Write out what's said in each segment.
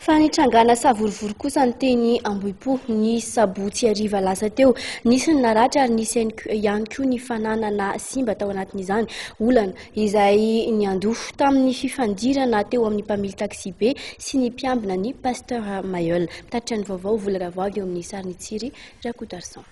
Fa nitrangana savorovoro kosa ny teny Ambohipo ny sabotsy hariva lasa teo. Nisy ny naratra ary nisy ihany koa ny fananana simba tao anatin'izany olana izay niandoha tamin'ny fifandirana teo amin'ny mpamily taksibe sy ny mpiambina ny Pasteur Mailleul. Mitatitra ny vaovao Vola Ravoagy eo amin'ny sarin'i Tsiry Rakotoarison.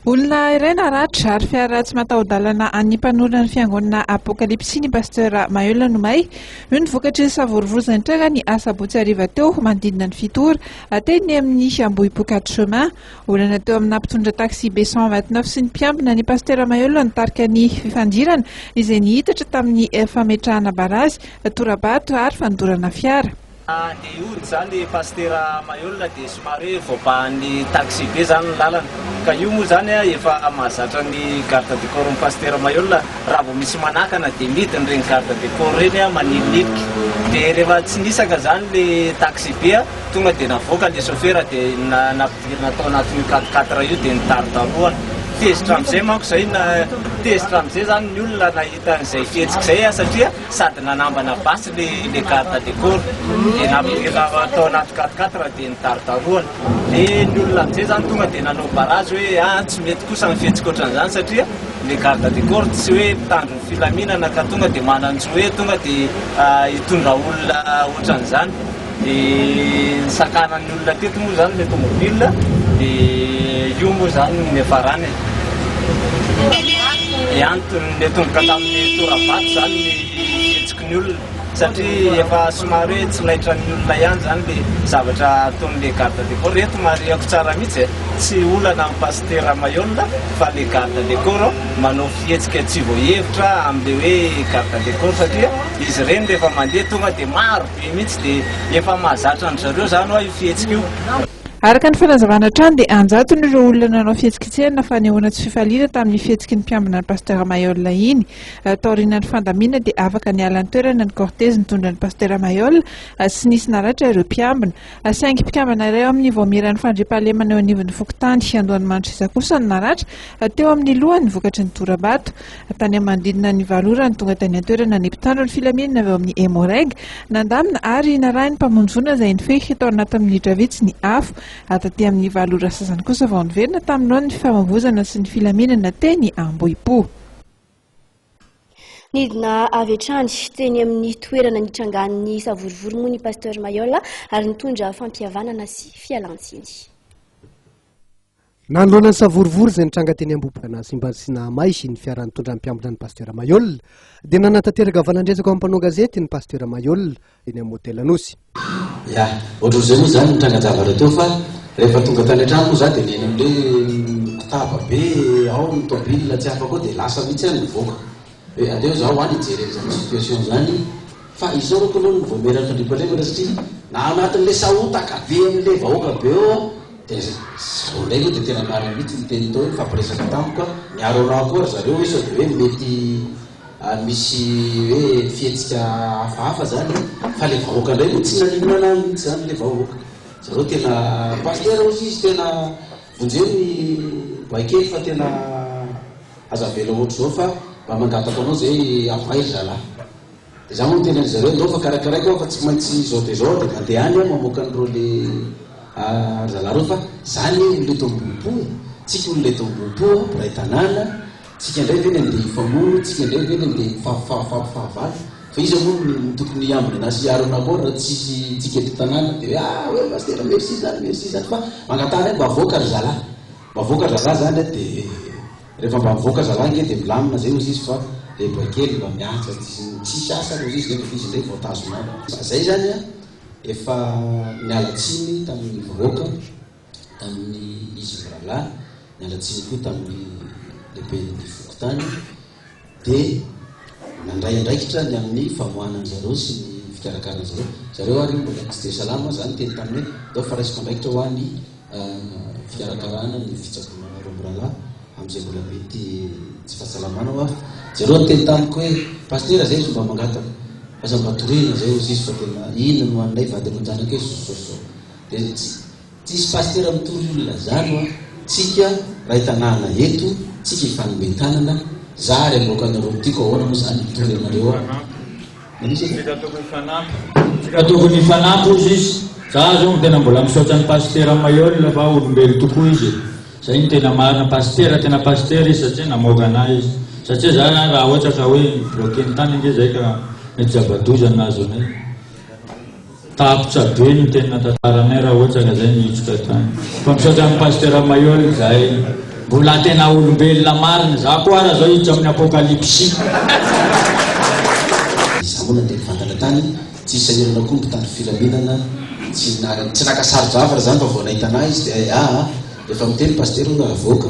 Olona iray naratra ary fiara tsy mataho-dalana an'ny mpanorina ny fiangonana Apokalipsy ny Pasteur Maheulin Nomay. Io no vokatry ny savorovozany nitranga ny asabotsy hariva teo manodidina ny fito ora teny amin'ny Ambohipo quatre chemins. Olana teo amina mpitondra taxi-be cent vingt neuf sy ny mpiambina ny Pasteur Maheulin nitarika ny fifandirana izay nihitatra tamin'ny fametrahana barazy, tora-bato ary fandorana fiara. Dia io izany Pasitera Mailhol dia somary hoe voabahan'ny taxi-be izany ny lalana. Ka io moa izany efa mahazatra ny garde du corps-n'i Pasitera Mailhol. Raha vao misy manakana dia midina ireny garde du corps ireny maninoninoka. Dia rehefa tsy nisaka izany ilay taxi-be, tonga dia navoaka ilay sôfera dia nampidirina tao anatin'io quatre quatre io dia nidarodarohana. Tezitra amin'izay manko izay, tezitra amin'izay izany ny olona nahita an'izay fihetsika izay satria. sady nanambana basy le le garde de corps de naverina tao anaty quatre quatre de nidarodarohana de ny olona amizay zany tonga de nanao barrage hoe a tsy mety kosa ny fihetsika otran'izany satria le garde de corps tsy hoe mpitandro ny filaminana ka tonga de manan-jo hoe tonga de hitondra olona otran'izany Dia ny sakanan'ny olona teto moa izany ilay tomobile dia io moa izany no niafarana e. Ny antony niatomboka tamin'ny tora-bato izany ny fihetsiky ny olona satria efa somary hoe tsy laitran'ny olona ihany izany ilay zavatra ataon'ilay garde de corps. Eto marihako tsara mihitsy e, tsy olana amin'i Pasitera Maihol fa ilay garde de corps manao fihetsika tsy voahevitra amin'ilay hoe garde de corps satria izy ireny rehefa mandeha tonga dia maro. be mihitsy dia efa mahazatra an-dry zareo izany hoa io fihetsika io. Araka ny fanazavana hatrany dia an-jatony ireo olona nanao fihetsiketsehana fanehoana tsy fifaliana tamin'ny fihetsiky ny mpiambina an'i Pasteur Mailhol iny. Taorinan'ny fandaminana dia afaka niala an-toerana ny cortège nitondra an'i Pasteur Mailhol sy nisy naratra ireo mpiambina. Saingy mpikambana iray ao amin'ny Vaomieran'ny fandriampahalemana eo anivon'ny fokontany Andohanimandrosisa kosa no naratra teo amin'ny lohany vokatry ny tora-bato. Tany amin'ny manodidina ny valo ora no tonga tany an-toerana ny mpitandro ny filaminana avy ao amin'ny Emmo-Reg. Nandamina ary narahin'ny mpamonjy-voina izay nifehy tao anatin'ny minitra vitsy ny afo. Taty amin'ny valo ora sasany kosa vao niverina tamin'ny laoniny ny fifamoivoizana sy ny filaminana teny Ambohipo. Nidina avy hatrany teny amin'ny toerana nitrangan'ny savorovoro moa ny Pasteur Mayola ary nitondra fampihavanana sy fialantsiny. Nanoloana ny savorovoro izay nitranga teny Ambohiboana Simbazy sy Nahamay ny fiara nitondra ny mpiambina ny Pasteur Mayola dia nanatanteraka valandresaka ho an'ny mpanao gazety ny Pasteur Mayola eny amin'ny hotel Anosy. Ya, ohatran'izay moa izany ny trangan-javatra teo fa rehefa tonga tany an-trano moa za dia nihaino an'ilay mpitaba be ao ny tôbila tsy afaka ao dia lasa mihitsy aho nivoaka hoe aleo za ho any hijery an'izany situation izany fa izao reko aloha no vao mieraka an-dry mpandrefana satria na anatin'ilay sahotaka be amin'ilay vahoaka be ao aho dia izay vao indray aloha dia tena marina mihitsy ny teny tao hoe nifampiresaka tamiko ka niaro anah koa ry zareo hoe sao dia hoe mety Ary misy hoe fihetsika hafahafa zany fa le vahoaka ndray no tsy naninona anao mintsy zany le vahoaka zareo tena pasitera ozy izy tena vonjeo ny bay kely fa tena aza avela ohatry zao fa mba mangataka anao zay ampay ry zalah de za moa tena ry zareo ndao fa karakaraiko aho fa tsy maintsy zao de zao de mandeha any aho mamoaka ny reo le ry zalah reo fa za anie olona eto ambohipo tsika olona eto ambohipo mpiray tanàna Tsika ndray ve ny andeha hifamono, tsika ndray ve ny andeha hifampifahafaty fahavalo, fa iza moa no tokony hiambina anah sy Aaron akao raha tsisy tsika eto tanàna dia hoe ah hoe pasitera merci zany merci zany fa mangatara hoe mba avoaka ry zalahy, mba avoaka ry zalahy zany hoe dia rehefa mba mivoaka zalahy ange dia milamina zay ozizy fa dia mba kely mba mihaja tsisy asa ary ozizy nefa dia izy ndray vao tazonao, fa zay zany an efa niala tsiny tamin'ny vahoaka. tamin'ny izy mirahalahy, niala tsiny koa tamin'ny lehiben'ny fokontany, dia nandray andraikitra ny amin'ny famoahana azy ireo sy ny fikarakarana azy ireo. Izy ireo ary mbola tsy dia salama, izany teny taminy hoe, Ndao fa raisiko andraikitra ho ahy ny fikarakarana ny fitsaboana anareo mirahalahy amin'izay mbola mety tsy fahasalamana ho avy. Izy ireo niteny tamiko hoe, Pasitera, izay izy no mba mangataka, aza mba toriana izay, hoy izy fa tena inona no ho an'ilay vady aman-janaka eo Sososososoo. Dia tsisy pasitera mitory olona zany wa, tsika ray tanàna eto tsika hifanome tanana, za ary aloka anareo tiako ahoana moa zany mitory anareo wa, manisy edy e. Tsika tokony hifanampy. Tsika tokony hifanampy hozy izy, za zao no tena mbola misaotra an'i pasitera Mailhol fa olombelo tokoa izy e, zay no tena marina, pasitera tena pasitera izy satria namoaka anah izy, satria za zany raha ohatra ka hoe mi-bloquer ny tany ange zay ka mety zava-doza no nahazo anay. Tapitra be ny tena tantaranay raha ohatra ka zay no hiditra tany. Fa misaotra an'i Pasteur Maillol zahay mbola tena olombelona marina. Za koa ara zao hiditra amin'ny apokalipsy. Izaho moa nandeha nivantana tany, tsy sahirana koa ny mpitandro filaminana, tsy naka, tsy naka sarodrava ry zany fa vao nahita anah izy dia, ah, ah, rehefa miteny pasitera hono raha avoaka,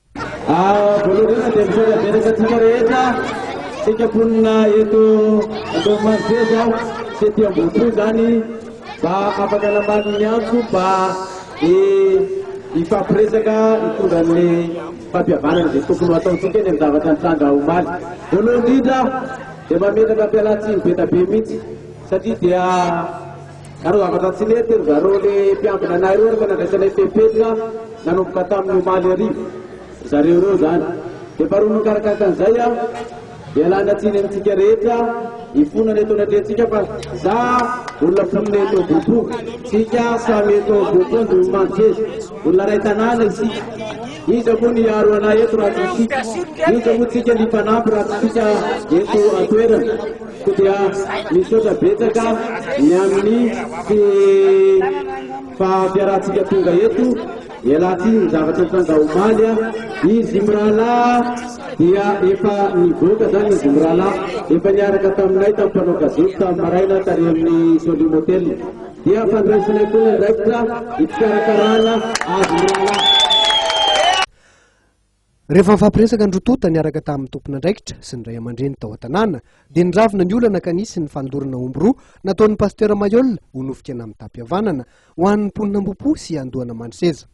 Voalohany dia misaotra betsaka antsika rehetra, isika mponina eto Andohamaroseja sy ety Ambohipo izany mba afaka namaly ny antso mba hifampiresaka hitondra ny fampihavanana izay tokony ho ataontsika eny amin'ny zavatra nitranga omaly. Voalohany indrindra dia mametraka fialantsiny be dia be mihitsy satria dia Nanao zavatra tsy nety ry zareo le mpiambina anay reo refa nandraisanay fepetra nanomboka taminy omaly hariva ry zareo reo zany de faharoa mikarakaka an'izay a ialany atsiny amintsika rehetra ifonana eto anatrehantsika fa za olona mponina eto Ambohipo tsika samy eto Ambohipo Andriamanjery olona ray tanàna isika iza moa ny hiaro anay eto raha tsy isika iza moa tsika ny mpanampy raha tsy isika eto an-toerana Koa dia misaotra betsaka ny amin'ny tsy fahafiarantsika tonga eto, ialahy ity ny zavatra tranga omaly an, izy mirahalahy dia efa nivoaka zany izy mirahalahy, efa niaraka taminay tamin'ny mpanao gazety tamin'ny maraina tary amin'ny Solium Hotel, dia fandraisanay koa ny andraikitra hikarakarana azy mirahalahy. Rehefa nifampiresaka ny roa tonta niaraka tamin'ny tompon'andraikitra sy ny ray aman-dreny tao an-tanàna dia niravona ny olana ka nisy ny fanolorana omby roa nataon'ny Pasitera Mayoll ho nofika namin-tam-pihavanana ho an'ny mponina Ambohipo sy Andohanamandriseza.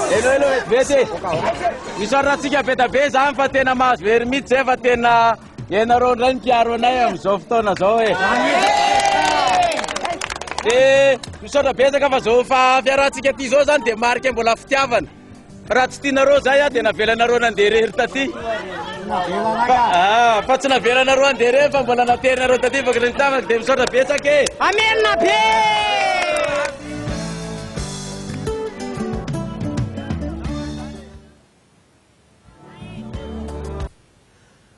Hello hello vete. Misaotra antsika be da be izany fa tena mahazo hery mihitsy izay fa tena ianareo indray ny mpiaro anay amin'izao fotoana izao e. Dia misaotra betsaka fa izao fa fiarahantsika ity izao izany dia marika mbola fitiavana. Raha tsy tianareo zay aho dia navelanareo nandeha irery taty. Ah, fa tsy navelanareo andeha irery fa mbola naterinareo taty vokatry ny tanako dia misaotra betsaka e. Amena be!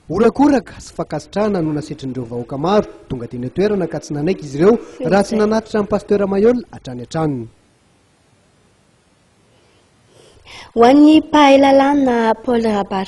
Horakoraka sy fankasitrahana no nasetrin'ireo vahoaka maro tonga teny an-toerana ka tsy nanaiky izy ireo raha tsy nanatitra an'i Pasteur Mayolle hatrany an-tranony. Ho an'ny mpahay lalàna Paul Rabary